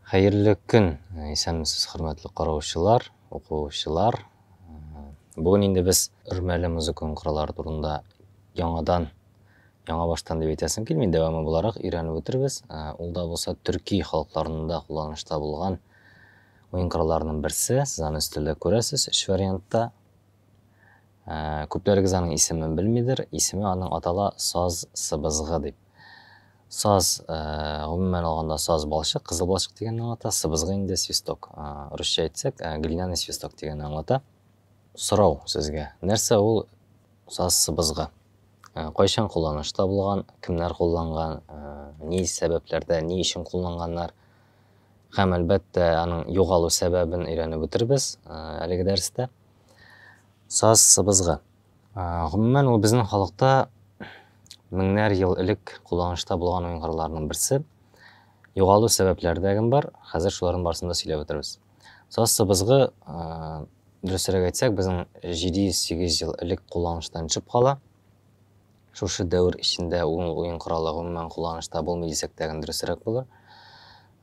Хәерле көн! Исәнмесез, хөрмәтле караучылар, укучылар. Бүген инде без Өрмәле музыка оңкырлары турында яңадан, яңа баштан дип әйтәсем килми, дәвамы буларак өйрәнеп үтербез. Ул да булса төрки халыкларында кулланышта булган уен коралларының берсе. Сез аны өстәлдә күрәсез, өч вариантта. Күпләрегез аның исемен белмидер, исеме аның атала саз сыбызгы дип. Саз, гомумән алганда, саз балчык, кызыл балчык дигәнне аңлата, сыбызгы инде свисток. Русча әйтсәк, глиняный свисток дигәнне аңлата. Сорау сезгә, нәрсә ул саз сыбызгы? Кайчан кулланышта булган, кемнәр кулланган, ни сәбәпләрдә, ни өчен кулланганнар? Һәм, әлбәттә, аның югалу сәбәбен өйрәнеп үтербез әлеге дәрестә. Саз, сыбызгы. Гомумән, ул безнең халыкта меңнәр ел элек кулланышта булган уенгырларның берсе. Югалу сәбәпләре дә гем бар. Хәзер шуларның барысын да сөйләп үтербез. Саз, сыбызгы, дөресрәк әйтсәк, безнең 700-800 ел элек кулланыштан төшеп кала. Шушы дәвер эчендә ул уен коралы гомумән кулланышта булмый дисәк тәген дөресрәк булыр.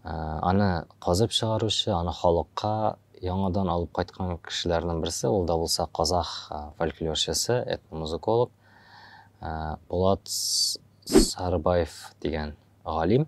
Аны казып чыгаручы, аны халыкка яңадан алып кайткан кешеләрнең берсе, ул да булса казах фольклорчысы, этномузыколог Булат Сарыбаев дигән галим.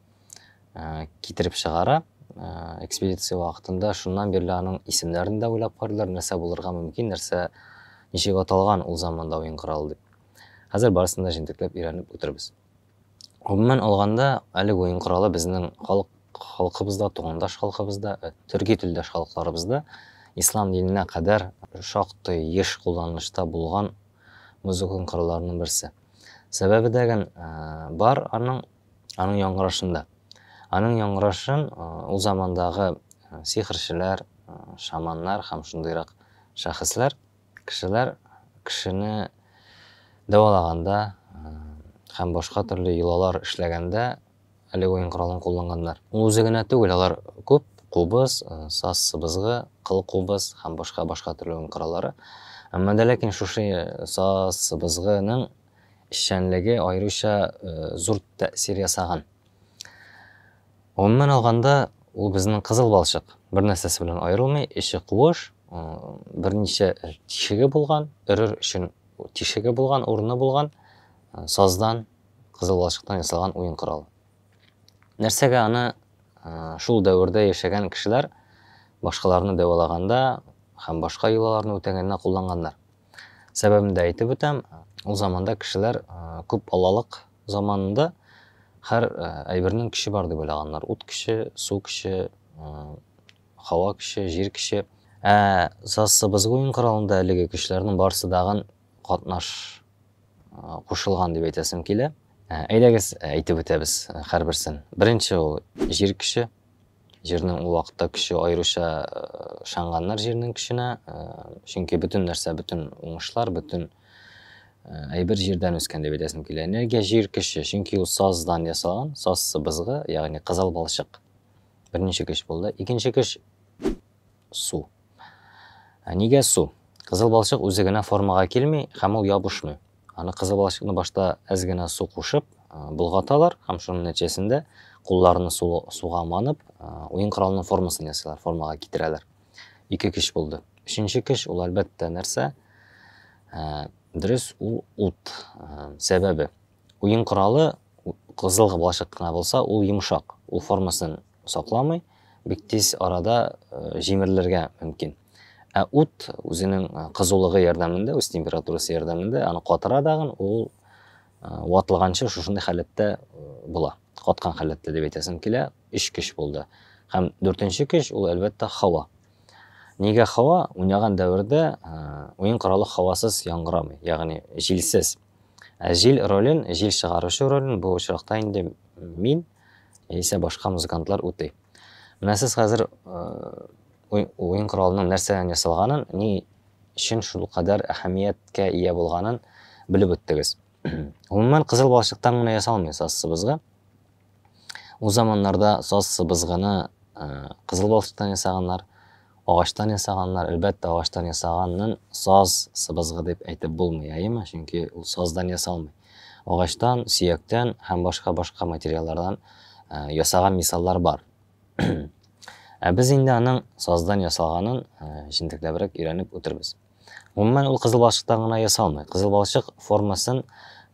китереп чыгара. Экспедиция вакытында шуннан бирле аның исемнәрен дә уйлап кардылар, нәрсә булырга мөмкин, нәрсә ничек аталган ул заманда уен коралы дип. Хәзер барысын да җентекләп өйрәнеп үтербез. Гомумән алганда, әлеге уен коралы безнең халык халкыбызда, тугандаш халкыбызда, э, төрки телдәш халыкларыбызда ислам диненә кадәр шактый еш кулланылышта булган музыка коралларының берсе. Сәбәбе дәген э, бар аның Аның яңгырашында. Аның яңгырашын ул замандагы сихерчеләр, шаманнар һәм шундыйрак шәхесләр, кешеләр кешене дәвалаганда һәм башка төрле йолалар эшләгәндә әле уен коралын кулланганнар. Ул үзе генә түгел, алар күп кубыз, саз сыбызгы, кыл кубыз һәм башка башка төрле уен кораллары. Әмма дә ләкин шушы саз сыбызгының эшчәнлеге аеруча зур тәэсир ясаган. Гомумән алганда, ул безнең кызыл балчык. Бер нәрсәсе белән аерылмый, эче куыш, берничә тишеге булган, өрер өчен тишеге булган, урыны булган, саздан, кызыл балчыктан ясалган уен коралы. Нәрсәгә аны шул дәвердә яшәгән кешеләр башкаларны дәвалаганда һәм башка йолаларны үтәгәндә кулланганнар? Сәбәбен дә әйтеп үтәм, ул заманда кешеләр күп балалык заманында һәр әйбернең көче бар дип уйлаганнар. Ут көче, су көче, һава көче, җир көче. Ә Сассыбыз уен коралында әлеге көчләрнең барысы дагын катнаш кушылган дип әйтәсем килә. Әйдәгез әйтеп үтәбез һәрберсен. Беренче ул җир көче, Җирнең ул вакытта көче аеруча э, ышанганнар җирнең көченә, э, чөнки бөтен нәрсә, бөтен уңышлар, бөтен э, әйбер җирдән үскән дип әйтәсем килә. Энергия җир көче, чөнки ул саздан ясалган, саз сыбызгы, ягъни кызыл балчык. Беренче көч булды. Икенче көч Су. Ә нигә су? Кызыл балчык үзе генә формага килми һәм ул ябышмый. Аны кызыл балчыкны башта әз генә су кушып, болгаталар һәм шуның нәтиҗәсендә кулларны су, суга манып, уен коралының формасын ясыйлар, формага китерәләр. Ике кеш булды. Өченче кеш ул әлбәттә нәрсә? Дөрес, ул ут. Сәбәбе Уен коралы кызыл гыблачык кына булса, ул йомшак, ул формасын сакламый, бик тиз арада җимерелергә мөмкин. Ә ут үзенең кызулыгы ярдәмендә, үз температурасы ярдәмендә аны катыра дагын, ул ватылганчы шушындый халәттә була. Каткан халәттә дип әйтәсем килә, өч көч булды. Һәм дүртенче көч ул әлбәттә һава. Нигә һава? Уйнаган дәвердә уен коралы һавасыз яңгырамый, ягъни җилсез. Ә җил ролен, җил чыгаручы ролен бу очракта инде мин яисә башка музыкантлар үти. Менә сез хәзер уен коралының нәрсәдән ясалганын, ни өчен шул кадәр әһәмияткә ия булганын белеп үттегез. Гомумән, кызыл балчыктан гына ясалмый сазсыбызга. Ул заманнарда саз сыбызгыны кызыл балчыктан ясаганнар, агачтан ясаганнар. Әлбәттә, агачтан ясаганнын саз сыбызгы дип әйтеп булмый, әйеме? Чөнки ул саздан ясалмый. Агачтан, сөяктән һәм башка-башка материаллардан ясаган мисаллар бар. Ә без инде аның саздан ясалганын җентекләбрәк өйрәнеп үтербез. Гомумән, ул кызыл балчыктан гына ясалмый. Кызыл балчык формасын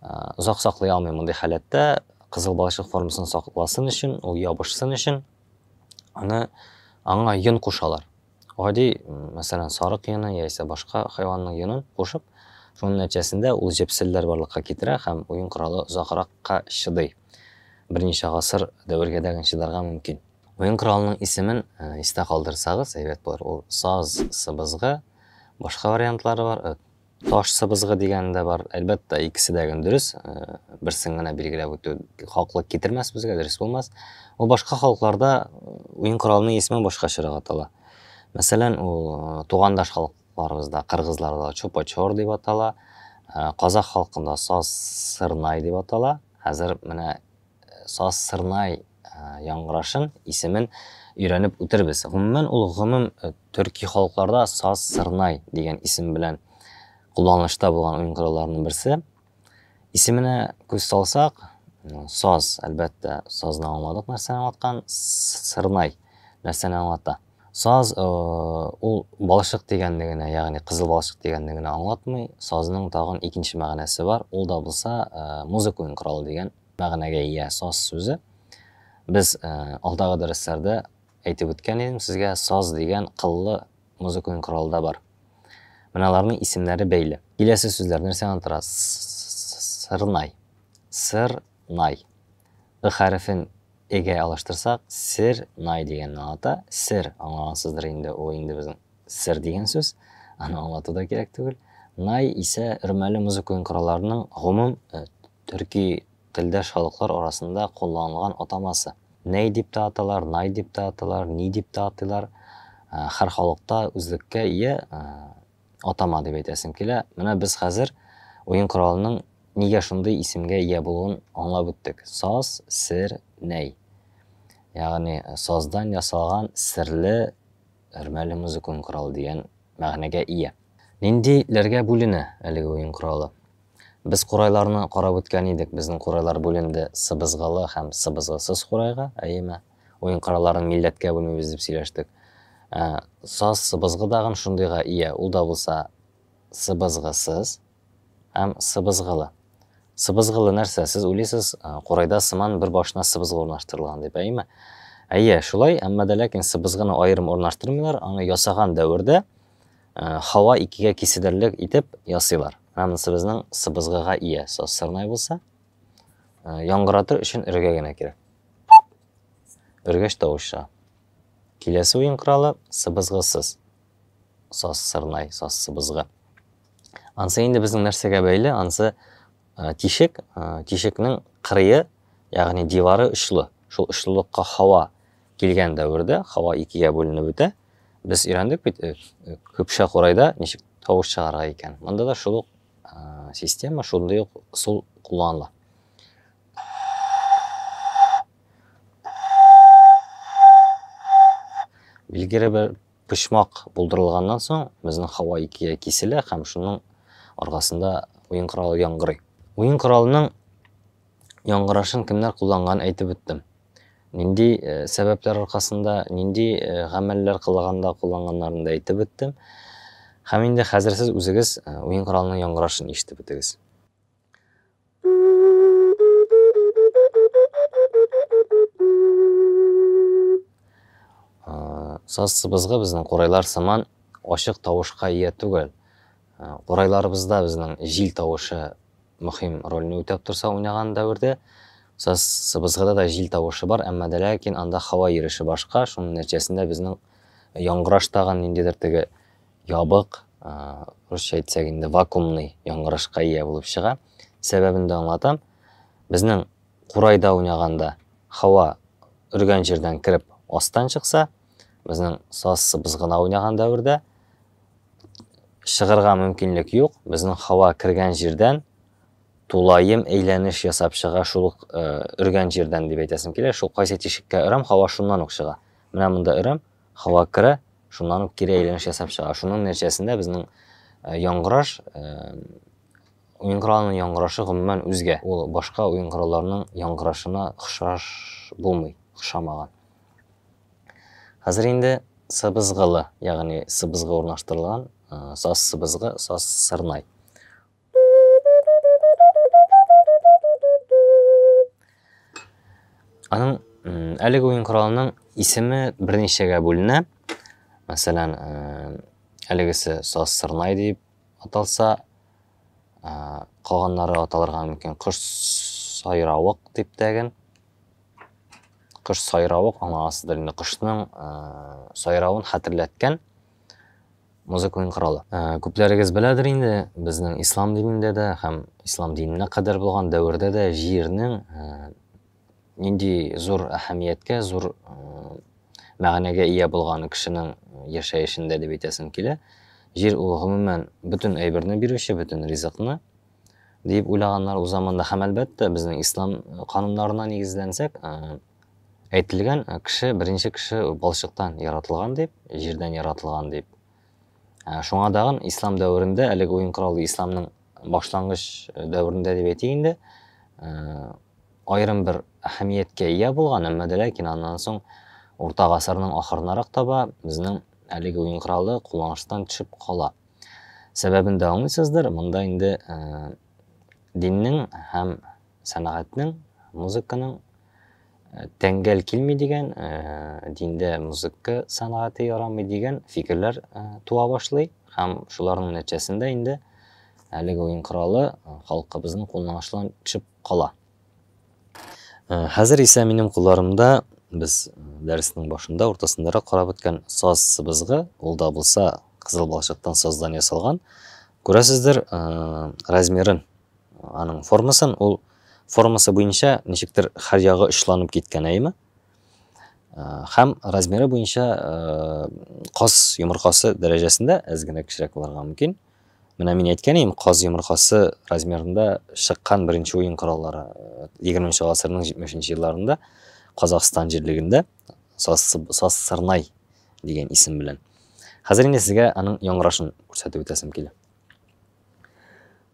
озак саклый алмый мондый халәттә. Кызыл балчык формасын сакласын өчен, ул ябышсын өчен, аны аңа йон кушалар. Гади, мәсәлән, сарык йоны яисә башка хайванның йонын кушып, шуның нәтиҗәсендә ул җепселләр барлыкка китерә һәм уен коралы озагракка чыдый. Берничә гасыр дәвергә дә чыдарга мөмкин. Уен коралының исемен истә калдырсагыз, әйбәт булыр. Ул саз сыбызгы, башка вариантлары бар. Таш сыбызгы дигәне дә бар. Әлбәттә, икесе дә гел дөрес. Берсен генә билгеләп үтү хаклык китермәс безгә, дөрес булмас. Ул башка халыкларда уен коралының исеме башкачарак атала. Мәсәлән, ул тугандаш халык халыкларыбызда кыргызларда чупа-чор дип атала, казах халкында саз сырнай дип атала. Хәзер менә Сазсырнай яңгырашын, исемен өйрәнеп үтербез. Гомумән, ул гомум төрки халыкларда Сазсырнай дигән исем белән кулланылышта булган уен коралларының берсе. Исеменә күз салсак, саз, әлбәттә, сазны аңладык нәрсәне аңлаткан, сырнай нәрсәне аңлата. Саз э, ул балышык дигәнне генә, ягъни кызыл балышык дигәнне генә аңлатмый. Сазның тагын икенче мәгънәсе бар. Ул да булса э, музыка уен коралы дигән мәгънәгә ия саз сүзе. Без алдагы дәресләрдә әйтеп үткән идем сезгә, саз дигән кыллы музыкаль корал да бар. Менә аларның исемнәре бәйле. Киләсе сүзләр нәрсәдән тора? Сырнай. Сырнай. Ы хәрефен эгә алыштырсак, сер най дигәнне аңлата. Сер аңлагансыздыр инде, ул инде безнең сер дигән сүз. Аны аңлату да кирәк түгел. Най исә өрмәле музыкаль коралларның гомум Төрки телдәш халыклар арасында кулланылган атамасы. Ней дип тә аталар, Най дип тә аталар, Ни дип тә атыйлар. Хәр халыкта үзлеккә ия атама дип әйтәсем килә. Менә без хәзер уен коралының нигә шундый исемгә ия булуын аңлап үттек. Саз, сер, ней. Ягъни саздан ясалган серле Өрмәле музыка уен коралы дигән мәгънәгә ия. Нинди ләргә бүленә әлеге уен коралы? Без курайларны карап үткән идек, безнең курайлар бүленде сыбызгылы һәм сыбызгысыз курайга, әйеме? Уен коралларын милләткә бүлмибез дип сөйләштек. Ә, саз сыбызгы дагын шундыйга ия, ул да булса сыбызгысыз. Һәм сыбызгылы. Сыбызгылы нәрсә? Сез уйлыйсыз, курайда сыман бер башына сыбызгы урнаштырылган дип, әйеме? Әйе, шулай, әмма дә ләкин сыбызгыны аерым урнаштырмыйлар, аны ясаган дәвердә һава икегә киседерлек итеп ясыйлар. Менә монысы безнең сыбызгыга ия сырнай булса, яңгыратыр өчен өргә генә кирәк. Өргәч тавыш чыга. Киләсе уен коралы сыбызгысыз. Саз сырнай, саз сыбызгы. Ансы инде безнең нәрсәгә бәйле? Ансы э, тишек, э, тишекнең кырые, ягъни дивары очлы. Шул очлылыкка һава килгән дәвердә һава икегә бүленеп бетә. Без өйрәндек бит э, көпшә курайда ничек тавыш чыгарга икән. Монда да шул ук система, шундый ук сул кулланыла. Билгеле бер Почмак булдырылганнан соң, безнең һава икегә киселә һәм шуның аркасында уен коралы яңгырый. Уен коралының яңгырашын кемнәр кулланганын әйтеп үттем. Нинди э, сәбәпләр аркасында, нинди э, гамәлләр кылганда кулланганнарын да әйтеп үттем. Һәм инде хәзер сез үзегез э, уен коралының яңгырашын ишетеп үтегез. Саз сыбызгы безнең курайлар сыман ачык тавышка ия түгел. Курайларыбызда безнең җил тавышы мөһим рольне үтәп торса уйнаган дәвердә, саз сыбызгыда да җил тавышы бар, әмма дә ләкин анда һава йөреше башка, шуның нәтиҗәсендә безнең яңгыраш тагын ниндидер теге ябык, русча әйтсәк инде вакуумный яңгырашка ия булып чыга. Сәбәбен дә аңлатам. Безнең курайда уйнаганда һава өргән җирдән кереп астан чыкса, безнең сазсыбыз гына уйнаган дәвердә чыгырга мөмкинлек юк. Безнең һава кергән җирдән тулаем әйләнеш ясап чыга, шул ук өргән җирдән дип әйтәсем килә. Шул кайсы тишеккә өрәм, һава шуннан ук чыга. Менә монда өрәм, Һава керә, шуннан ук кире әйләнеш ясап чыга. Шуның нәтиҗәсендә безнең э, яңгыраш э, уен коралының яңгырашы гомумән үзгә. Ул башка уен коралларының яңгырашына охшаш булмый, охшамаган. Хәзер инде сыбызгылы, ягъни сыбызгы урнаштырылган, э, саз сыбызгы, саз сырнай. Аның әлеге уен коралының исеме берничәгә бүленә. Мәсәлән, әлегесе саз сырнай дип аталса, калганнары аталырга мөмкин кош сайравык дип тәген. Кош сайравык аңа асыдыр инде кошның сайравын хәтерләткән. музыка уен коралы. Ә, күпләрегез беләдер инде, безнең ислам динендә дә һәм ислам диненә кадәр булган дәвердә дә җирнең ә, нинди зур әһәмияткә, зур ә, мәгънәгә ия булган кешенең яшәешендә дип әйтәсем килә. Җир ул гомумән бөтен әйберне бирүче, бөтен ризыкны дип уйлаганнар узамында һәм әлбәттә безнең ислам кануннарына нигезләнсәк, Әйтелгән, кеше беренче кеше балчыктан яратылган дип, җирдән яратылган дип. Ә, Шуңа дагын ислам дәверендә, әлеге уен коралы исламның башлангыч дәверендә дип әйтик инде, ә, аерым бер әһәмияткә ия булган, әмма дә ләкин аннан соң урта гасырның ахырынарак таба безнең әлеге уен коралы кулланыштан төшеп кала. Сәбәбен дә аңлыйсыздыр, монда инде ә, диннең һәм Сәнгатьнең, музыканың тәңгәл килми дигән, диндә музыка сәнгате ярамый дигән фикерләр туа башлый һәм шуларның нәтиҗәсендә инде әлеге уен коралы халкыбызның кулына ачылган төшеп кала. Хәзер исә минем кулларымда без дәресенең башында, уртасындарак карап үткән саз сыбызгы, ул да булса кызыл балчыктан саздан ясалган. Күрәсездер, размерын Аның формасын, ул формасы буенча ничектер хәр ягы очланып киткән әйме? Хәм размеры буенча каз йомыркасы дәрәҗәсендә әз генә кечерәк булырга мөмкин. Менә мин әйткән идем, каз йомыркасы размерында чыккан беренче уен кораллары 20 нче гасырның 70 нче елларында Казахстан җирлегендә Сассырнай дигән исем белән. Хәзер инде сезгә аның яңгырашын күрсәтеп үтәсем килә.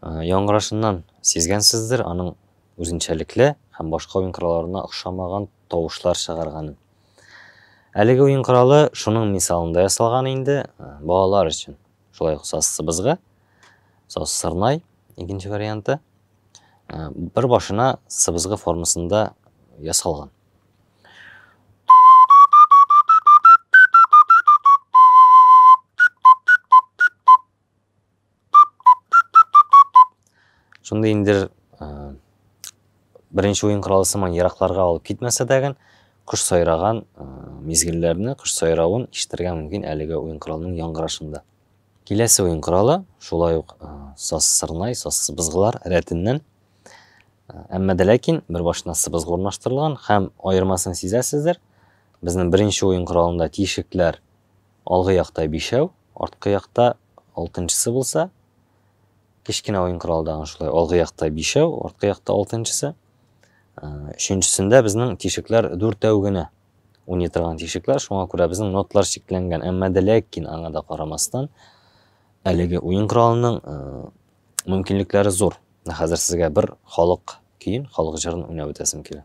Яңгырашыннан сизгәнсездер, аның үзенчәлекле һәм башка уен коралларына охшамаган тавышлар чыгарганын. Әлеге уен коралы шуның мисалында ясалган инде, балалар өчен. Шулай ук сазсыбызгы, саз сырнай, икенче варианты, бер башына сыбызгы формасында ясалган. Шундый инде беренче уен коралы сыман еракларга алып китмәсә дәген, кош сайраган мизгелләрне, кош сайравын ишетергә мөмкин әлеге уен коралының яңгырашында. Киләсе уен коралы шулай ук саз сырнай, саз сыбызгылар рәтеннән. Әмма дә ләкин бер башына сыбызгы урнаштырылган һәм аермасын сизәсездер. Безнең беренче уен коралында тишекләр Алгы якта бишәү, арткы якта алтынчысы булса, кечкенә уен коралы тагын шулай. Алгы якта бишәү, арткы якта алтынчысы. Өченчесендә безнең тишекләр дүртәү генә уйный торган тишекләр, шуңа күрә безнең нотлар чикләнгән. Әмма дә ләкин аңа да карамастан, әлеге уен коралының мөмкинлекләре зур. Хәзер сезгә бер халык көен, халык җырын уйнап үтәсем килә.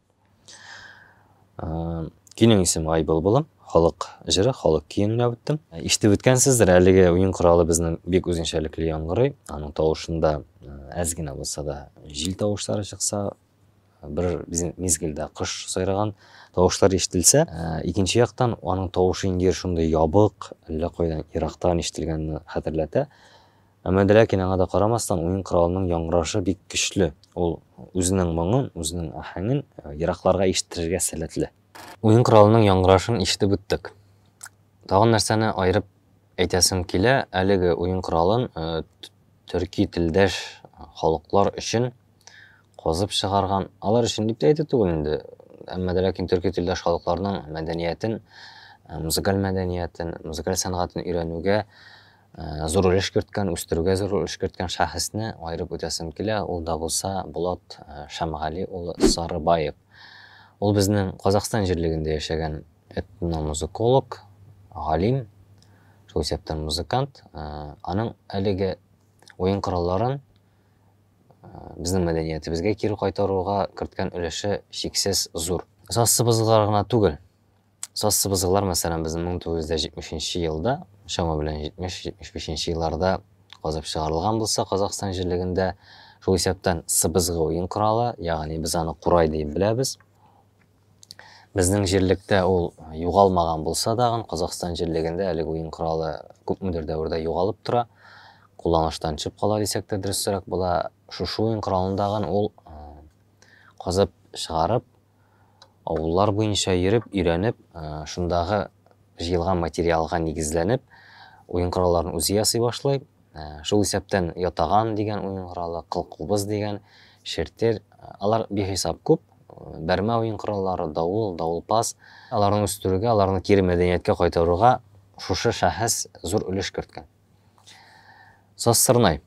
Кинең исем Ай былбылым, халык җыры, халык киен уйнап үттем. Ишетеп үткәнсездер, әлеге уен коралы безнең бик үзенчәлекле яңгырый. Аның тавышында әз генә булса да җил тавышлары чыкса, бер мизгелдә кош сайраган тавышлар ишетелсә, икенче яктан аның тавышы инде шундый ябык, әллә кайдан ерактан ишетелгәнне хәтерләтә. Әмма Дрякин аңа да карамастан, уен коралының яңгырашы бик көчле, ул үзенең моңын, үзенең аһәңен еракларга ишеттерергә сәләтле. Уен коралының яңгырашын ишетеп үттек. Тагын нәрсәне аерып әйтәсем килә, әлеге уен коралын төрки телдәш халыклар өчен казып чыгарган, алар өчен дип тә әйтү түгел инде, әмма Дрякин төрки телдәш халыкларның мәдәниятен, музыкаль мәдәниятен, музыкаль сәнгатен өйрәнүгә Зур өлеш керткән, үстерүгә зур өлеш керткән шәхесне аерып үтәсем килә, ул да булса Булат Шәмгали улы Сарыбаев. Ул безнең Казахстан җирлегендә яшәгән этномузыколог, галим, шул исәптән музыкант. Аның әлеге уен коралларын безнең мәдәниятебезгә кире кайтаруга керткән өлеше чиксез зур. Сазчыбызга гына түгел, Сассыбызгылар, мәсәлән, безнең 1970 нче елда, чама белән 70-75 нче елларда казып чыгарылган булса, Казахстан җирлегендә шул исәптән сыбызгы уен коралы, ягъни без аны курай дип беләбез. Безнең җирлектә ул югалмаган булса дагын, Казахстан җирлегендә әлеге уен коралы күпмедер дәвердә югалып тора, кулланыштан төшеп кала дисәк тә дөресрәк була. Шушы уен коралындагын ул казып чыгарып, авыллар буенча йөреп, өйрәнеп, шундагы җыелган материалга нигезләнеп, уен коралларын үзе ясый башлый. Шул исәптән ятаган дигән уен коралы, кылкубыз дигән, шертер, алар бихисап күп. Бәрмә уен кораллары, давыл, давылпаз. Аларны үстерүгә, аларны кире мәдәнияткә кайтаруга шушы шәхес зур өлеш керткән. Сазсырнай,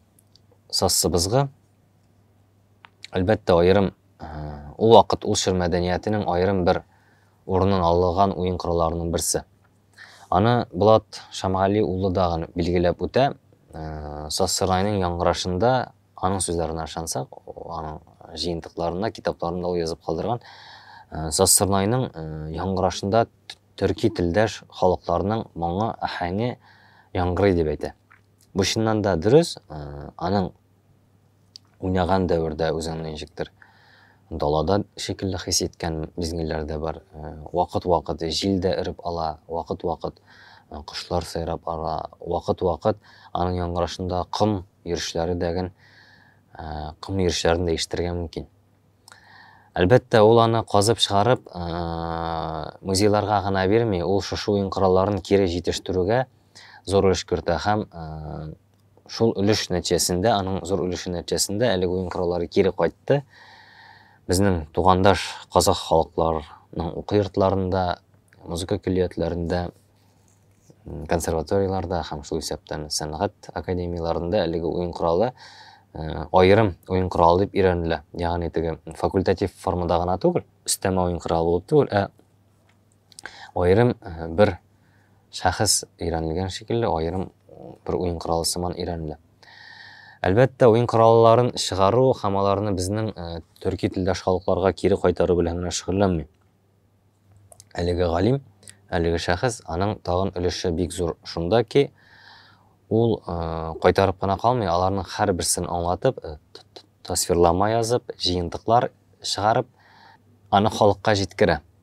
сазсыбызгы, Әлбәттә, аерым ул вакыт ул чор мәдәниятенең аерым бер урынын алган уен коралларының берсе. Аны Булат Шамгали улы да гына билгеләп үтә. Сасырайның яңгырашында аның сүзләренә ышансак, аның җыентыкларында, китапларында ул язып калдырган Сасырнайның яңгырашында төрки телдәш халыкларның моңы, ахәңе яңгырый дип әйтә. Бу чыннан да дөрес, аның уйнаган дәвердә үзеңне ничектер далада шикелле хис иткән мизгелләр дә бар. Э, вакыт-вакыт җил дә эреп ала, вакыт-вакыт э, кошлар сайрап ала, вакыт-вакыт аның яңгырашында ком йөрешләре дәген э, ком йөрешләрен дә ишетергә мөмкин. Әлбәттә, ул аны казып чыгарып, музейларга гына бирми, ул шушы уен коралларын кире җитештерүгә зур өлеш кертә һәм Шул өлеш нәтиҗәсендә, аның зур өлеше нәтиҗәсендә әлеге уен кораллары кире кайтты. Безнең тугандаш казах халыкларының уку йортларында, музыка көллиятләрендә, консерваторияләрдә һәм шул исәптән сәнгать академияләрендә әлеге уен коралы э, аерым уен коралы дип өйрәнелә. Ягъни теге факультатив формада гына түгел, өстәмә уен коралы булып түгел, ә Аерым бер шәхес өйрәнелгән шикелле, аерым бер уен коралы сыман өйрәнелә. Әлбәттә, уен коралларын чыгару һәм аларны безнең төрки телдәш халыкларга кире кайтару белән генә шөгыльләнми. Әлеге галим, әлеге шәхес, аның тагын өлеше бик зур шунда ки, ул кайтарып кына калмый, аларның һәрберсен аңлатып, тасвирлама язып, җыентыклар чыгарып, аны халыкка җиткерә.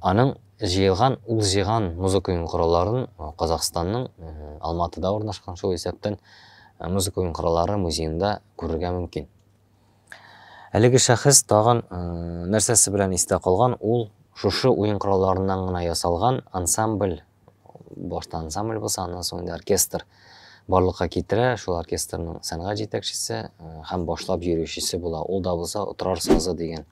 Аның җыелган, ул җыйган музыка уен коралларын Казахстанның Алматыда урнашкан шул исәптән музыка уен кораллары музеенда күрергә мөмкин. Әлеге шәхес тагын нәрсәсе белән истә калган, ул шушы уен коралларыннан гына ясалган ансамбль, башта ансамбль булса, аннан соң инде оркестр барлыкка китерә, шул оркестрның сәнгать җитәкчесе һәм башлап йөрүчесе була. Ул да булса Отрар сазы дигән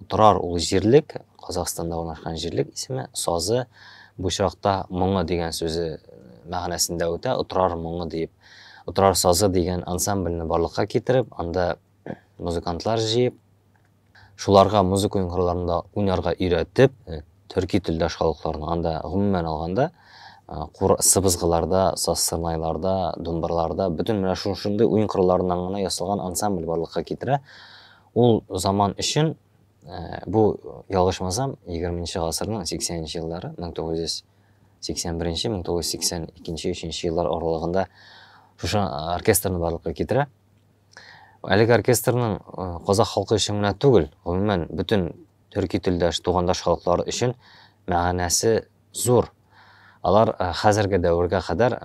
Торар ул җирлек, Казахстанда урнашкан җирлек исеме, сазы бу очракта моңы дигән сүзе мәгънәсендә үтә, Торар моңы диеп. Торар сазы дигән ансамбльне барлыкка китереп, анда музыкантлар җыеп, шуларга музыка уенкырларында уйнарга өйрәтеп, э, төрки телдәш халыкларны анда гомумән алганда э, сыбызгыларда, сазсырнайларда, думбырларда бөтен менә шушындый уен коралларыннан гына ясалган ансамбль барлыкка китерә. Ул заман өчен бу ялгышмасам егерменче гасырның сиксәненче еллары, 1981-1982-3 еллар аралыгында шушы оркестрны барлыкка китерә. Әлеге оркестрның казах халкы өчен генә түгел, гомумән бөтен төрки телдәш, тугандаш халыклар өчен мәгънәсе зур. Алар хәзерге дәвергә кадәр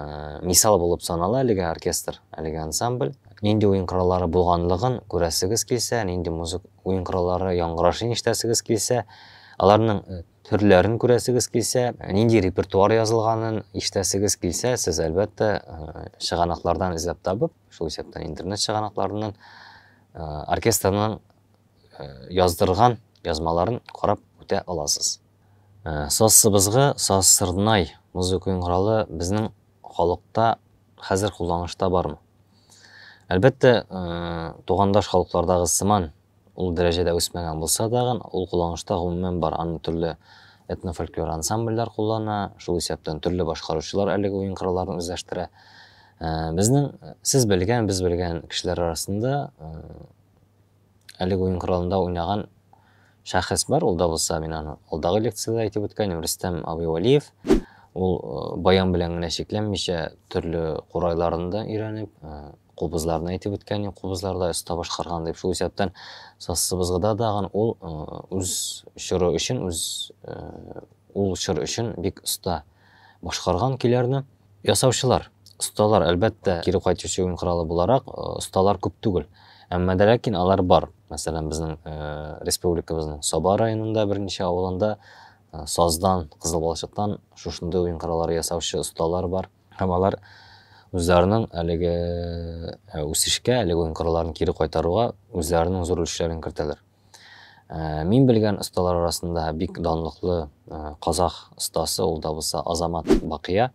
мисал булып санала әлеге оркестр, әлеге ансамбль. Нинди уен кораллары булганлыгын күрәсегез килсә, нинди музык уен кораллары яңгырашын ишетәсегез килсә, аларның төрләрен күрәсегез килсә, нинди репертуар язылганын ишетәсегез килсә, сез әлбәттә чыганаклардан эзләп табып, шул исәптән интернет чыганакларыннан оркестрның яздырган язмаларын карап үтә аласыз. Саз сыбызгы, саз сырнай музыка уен коралы безнең халыкта хәзер кулланышта бармы? Әлбәттә, тугандаш халыклардагы сыман ул дәрәҗәдә үсмәгән булса тагын, ул кулланышта гомумән бар. Аны төрле этнофольклор ансамбльләр куллана, шул исәптән төрле башкаручылар әлеге уен коралларын үзләштерә. Безнең, сез белгән, без белгән кешеләр арасында Әлеге уен коралында уйнаган шәхес бар, ул да булса, мин аны алдагы лекцияда әйтеп үткән идем, Рөстәм абый Вәлиев. Ул э, баян белән генә чикләнмичә, төрле курайларын да өйрәнеп, э, кубызларны әйтеп үткән идем, кубызларда оста башкарган дип. Шул исәптән сассыбызгыда дагын ул э, үз чоры өчен, үз ул чор өчен бик оста. Башкарган көйләрне ясаучылар, осталар, әлбәттә, кире кайтучы уен коралы буларак, э, осталар күп түгел. Әмма дә ләкин алар бар. Мәсәлән, безнең э, республикабызның Саба районында берничә авылында э, саздан, кызыл балчыктан шушындый уен кораллары ясаучы осталар бар. Һәм алар үзләренең әлеге үсешкә, әлеге уен коралларын кире кайтаруга үзләренең зур өлешләрен кертәләр. Э, мин белгән осталар арасында бик данлыклы э, казах остасы ул да булса азамат бакия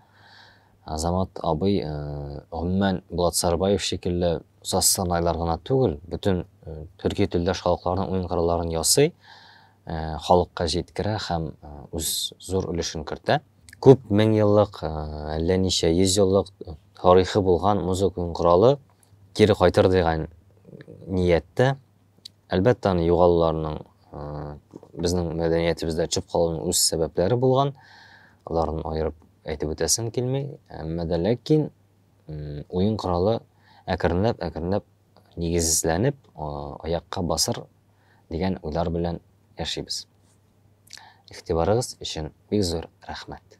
азамат абый э, гомумән булат сарбаев шикелле саз сырнайлар гына түгел бөтен төрки телдәш халыкларның уен кырылларын ясый халыкка җиткерә һәм үз зур өлешен кертә күп мең еллык әллә ничә йөз еллык тарихы булган музыка уен коралы кире кайтыр дигән нияттә Әлбәттә, аны югалуларның безнең мәдәниятебездә төшеп калуның үз сәбәпләре булган. Аларны аерып әйтеп үтәсем килми. Әмма дә ләкин уен коралы әкренләп, әкренләп нигезләнеп, аякка басыр дигән уйлар белән яшибез. Игътибарыгыз өчен бик зур рәхмәт.